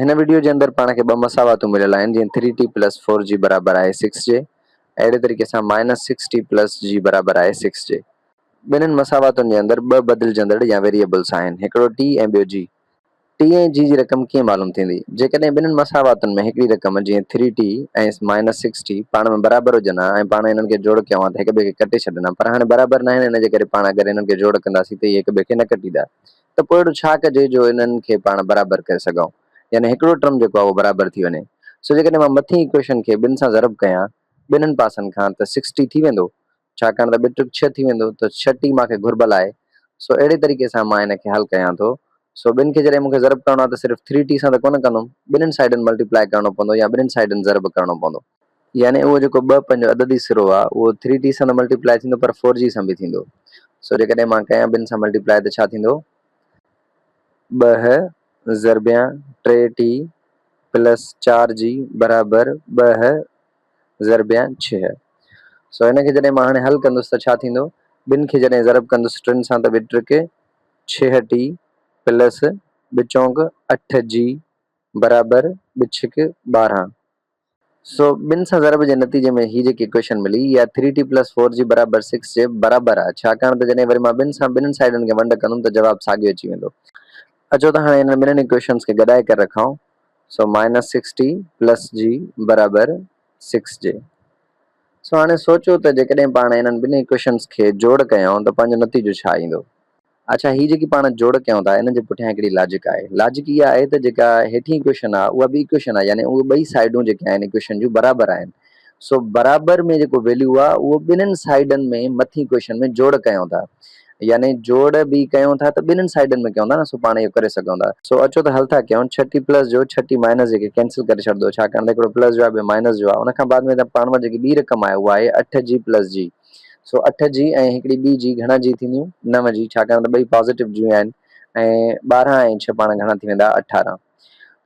هن وڊيو جي اندر پاڻ کي ٻه مساواتون مليل آهن جيئن ٿري ٽي پلس فور جي برابر آهي سڪس جي اهڙي طريقي سان مائنس سڪس ٽي پلس جي برابر آهي سڪس جي ٻنهن مساواتن جي اندر ٻه بدلجندڙ يا ويريئبلس آهن هڪڙو ٽي ۽ ٻيو جي ٽي ۽ جي جي رقم ڪيئن معلوم ٿيندي جيڪڏهن ٻنهن مساواتن ۾ هڪڙي رقم جيئن three T ۽ minus six T پاڻ ۾ برابر هجن ها ۽ پاڻ انهن کي جوڙ ڪيون ها ته هڪٻئي کي ڪٽي ڇڏن ها پر هاڻي برابر ناهن ان جي ڪري پاڻ اگر انهن کي جوڙ ڪنداسين ته اهي هڪٻئي کي نه ڪٽيندا ته پوء اهڙو ڇا ڪجي جو انهن کي پاڻ برابر ڪري سگهئون يعني هڪڙو ٽرم جيڪو آهي اهو برابر ٿي وڃي سو جيڪڏهن مان مٿين ايڪويشن کي ٻن سان ضرب ڪيان ٻنهن پاسن کان ته سڪس ٽي ٿي ويندو ڇاڪاڻ ته ٻه ٽرڪ ڇهه ٿي ويندو ته ڇهه ٽي مان کي گهربل آهي سو اهڙي طريقي سان مان ان کي حل ڪيان ٿو سو ٻن کي جڏهن مون کي ضرب ڪرڻو آهي ته صرف ٿري ٽي سان ته ڪونه ڪندم ٻنهن سائيڊن ملٽي پلائي ڪرڻو پوندو يا ٻنهن سائيڊن ضرب ڪرڻو پوندو. يعني اهو جيڪو ٻه پنهنجو عددي سرو آ اهو ٿري ٽي سان ته ملٽي پلائي ٿيندو پر فور جي سان به ٿيندو سو جيڪڏهن مان ڪيان ٻن سان ملٽي پلائي ته ڇا ٿيندو ٻه ضربيان ٽي ٽي پلس چار جي برابر ٻه ضربيان ڇهه سو هن کي جڏهن مان هاڻي حل ڪندس ته ڇا ٿيندو ٻن کي جڏهن ضرب ڪندس ٽن سان ته ٻي ٽرڪ ڇهه ٽي پلس ٻه چونڪ اٺ جي برابر ٻه ڇڪ ٻارهن سو ٻن سان ضرب جي نتيجي ۾ هي جيڪي اڪويشن ملي اها ٿري ٽي پلس فور جي برابر سڪس جي برابر آهي ڇاڪاڻ ته جڏهن وري مان ٻن سان ٻنهن سائيڊن کي ونڊ ڪندم ته جواب ساڳيو اچي ويندو. اچو ته هاڻي انهن ٻنهن اڪويشنز کي گڏائي ڪري رکائون. So minus six T plus جي برابر سڪس جي. سو هاڻي سوچو ته جيڪڏهن پاڻ انهن ٻنهي اڪويشنز کي جوڙ ڪيائون ته پنهنجو نتيجو ڇا ايندو؟ اڇا هي جيڪي پاڻ جوڙ ڪيون ٿا انهن جي پٺيان هڪڙي لاجڪ آهي. لاجڪ اها آهي ته جيڪا هيٺين اڪويشن آهي اها به اڪويشن آهي يعني اهي ٻئي سائيڊون جيڪي آهن اڪويشن جون برابر آهن سو برابر ۾ جيڪو ويليو آهي اهو ٻنهن سائيڊن ۾ مٿين اڪويشن ۾ جوڙ ڪيون ٿا يعني جوڙ به ڪيون ٿا ته ٻنهن سائيڊن ۾ ڪيون ٿا نه سو پاڻ اهو ڪري سگهون ٿا. سو اچو ته حل ٿا ڪيون ڇهه ٽي پلس جو ڇهه ٽي مائنس جي کي ڪينسل ڪري ڇڏدو ڇاڪاڻ ته هڪڙو پلس جو آهي ٻيو مائنس جو آهي ان کان بعد ۾ پاڻ وٽ جيڪي ٻي رقم آهي اها آهي اٺ جي پلس جي سو اٺ جي ۽ هڪڙي ٻي جي گهڻا جي ٿينديون؟ نو جي، ڇاڪاڻ ته ٻئي پازيٽو جيون آهن ۽ ٻارهن ۽ ڇهه پاڻ گهڻا ٿي ويندا اٺارهن.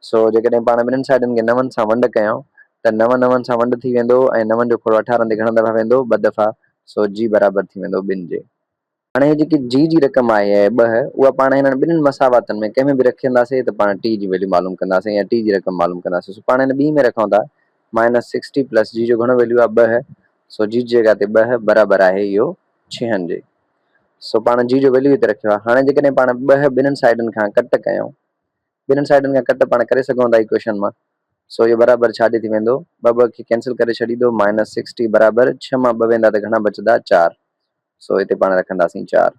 سو جيڪڏهن پاڻ ٻنهن سائيڊن کي نون سان ونڊ ڪيائون ته نو نون سان ونڊ ٿي ويندو ۽ نون جو کوڙو اٺارهن تي گهڻا دفعا ويندو؟ ٻه دفعا، سو جي برابر ٿي ويندو ٻن جي. هاڻي هي جيڪي جي جي رقم آهي ۽ ٻه اها پاڻ هنن ٻنهين مساواتن ۾ ڪنهن ۾ به رکينداسين ته پاڻ ٽي جي ويليو معلوم ڪنداسين يا ٽي جي رقم معلوم ڪنداسين سو پاڻ هن ٻينهين ۾ رکون ٿا مائنس سڪس ٽي پلس جي جو گهڻو ويليو آهي ٻه سو جي جي جڳهه تي ٻه برابر آهي اهو ڇهن جي سو پاڻ جي جو ويليو هتي رکيو آهي هاڻي جيڪڏهن پاڻ ٻه ٻنهين سائيڊن کان ڪٽ ڪيون ٻنهين سائيڊن کان ڪٽ پاڻ ڪري سگهون ٿا ايڪويشن مان سو اهو برابر ڇا جي ٿي ويندو ٻه ٻه کي ڪينسل ڪري ڇڏيندو مائنس سڪس ٽي برابر ڇهه مان ٻه ويندا ته گهڻا بچندا چار سو هتي پاڻ رکنداسين چار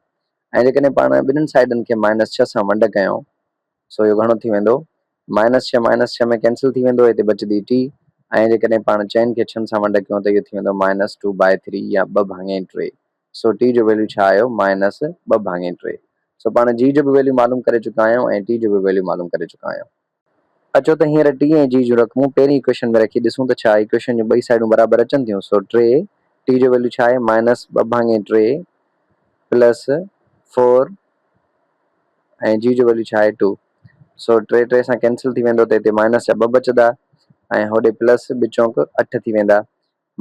۽ جيڪڏهن پاڻ ٻنهن سائيڊن کي مائنس ڇهه سان ونڊ ڪيون سو اهو گهڻو ٿي ويندو مائنس ڇهه مائنس ڇهه ۾ ڪينسل ٿي ويندو هتي بچندي ٽي ۽ جيڪڏهن پاڻ چئن کي ڇهن سان ونڊ ڪيون ته اهو ٿي ويندو مائنس ٽو بائي ٿري يا ٻه ڀاڱي ٽي سو ٽي جو ويليو ڇا آيو مائنس ٻه ڀاڱي ٽي سو پاڻ جي جو به ويليو معلوم ڪري چڪا آهيون ۽ ٽي جو به ويليو معلوم ڪري چڪا آهيون اچو ته هينئر ٽي ۽ جي جون رقمون پهرين اڪويشن ۾ رکي ڏسون ته ڇا اڪويشن جون ٻئي سائيڊون برابر اچن ٿيون. سو ٽي، ٽي جو ويليو ڇا آهي مائنس ٻه ڀاڱي ٽي پلس فور ۽ جي جو ويليو ڇا آهي ٽو. سو ٽي ٽي سان ڪينسل ٿي ويندو ته هتي مائنس جا ٻه بچدا ۽ هوڏي پلس ٻه چونڪ اٺ ٿي ويندا.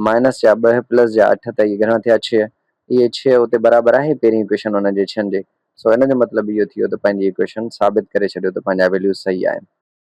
مائنس جا ٻه پلس جا اٺ ته اهي گهڻا ٿيا ڇهه. اهي ڇهه اتي برابر آهي پهرين ايڪويشن ان جي ڇهن جي. سو ان جو مطلب اهو ٿيو ته پنهنجي ايڪويشن ثابت ڪري ڇڏيو ته پنهنجا ويليوز صحيح آهن.